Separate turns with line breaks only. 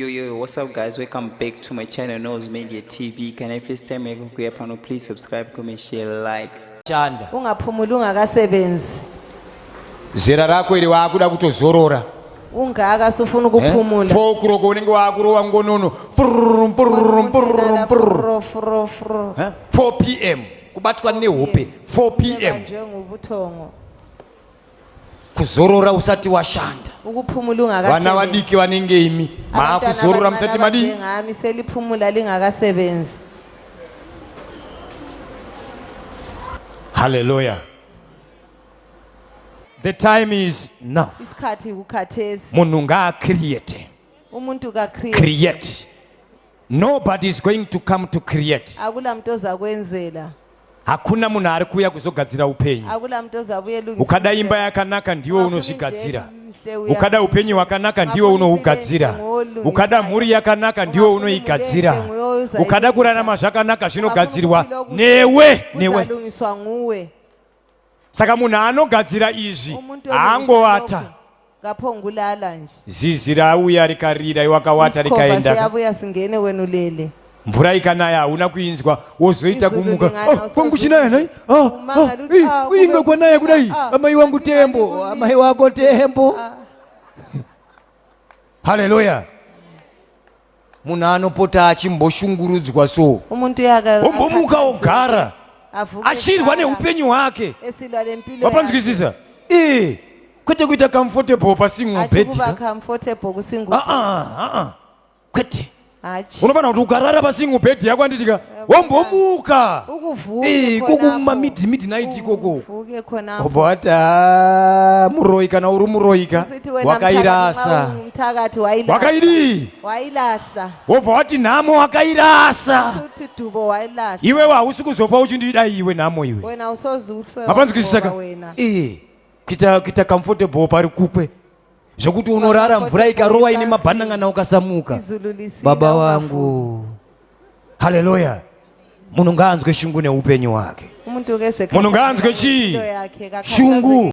Yo yo yo, what's up guys? Welcome back to my channel Nose Media TV. Can I first time make kuya pano please subscribe, comment, share, like. Chanda.
Ungaphumula
ungakasebenzi.
Zera rako ili wakuda kutozorora. Ungaka
sufuna eh? ukuphumula. Eh? Fo kuroko unenge
wakurowa ngonono. Furrum furrum furrum furrum furrum furrum. 4 pm kubatwa nehope 4 pm. Njengobuthongo. kuzorora usati washanda ukuphumula ungakasebenzi
vana vadiki vanenge
imi maakuzorora musati madii ngami seliphumula
lingakasebenzi
haleluya the time is now isikhathi kukhathesi
munhu ngaacreate
umuntu ka
create
nobody is going to come to create akula muntu
ozakwenzela hakuna
munhu ari kuuya kuzogadzira upenyu
ukada imba yakanaka
ndiwe unozvigadzira ukada upenyu hwakanaka ndiwe unohugadzira ukada mhuri yakanaka ndiwe unoigadzira ukada kurarama zvakanaka zvinogadzirwa newe newe
saka
munhu anogadzira izvi haangovata ngapongulala
nje zizi rauya
rikarira iwakawata rikaendayavuya singene wenu
lele mvura ikanaya
hauna kuinzwa wozoita kumuka oh, kwangu chinaya nhai ah, ah, uinge ah, kwanaya kudai amai wangu tembo amai wako tembo haleluya munhu anopota achimboshungurudzwa so umuntu
ombomuka ogara
achirwa neupenyu hwake vapanzwisisa ee kwete kuita comfortable pasingle bed ah, ah, ah, kwete unofanira kuti ukarara pasingle bed yako anditika wombomuka kukuma mid midnight ikoko obota ah, muroyi kana uri muroyika wakairasa wakaidii wobva wati nhamo wakairasa iwewe hausi kuzofa uchindida iwe nhamo iwe mapanzwisisaka kuita comfortable pari kukwe zvekuti unorara mvura ikarowa ine mabhanangana ukasamuka baba vangu haleluya munhu ngaanzwe shungu neupenyu hwake munhu ngaanzwe chii shungu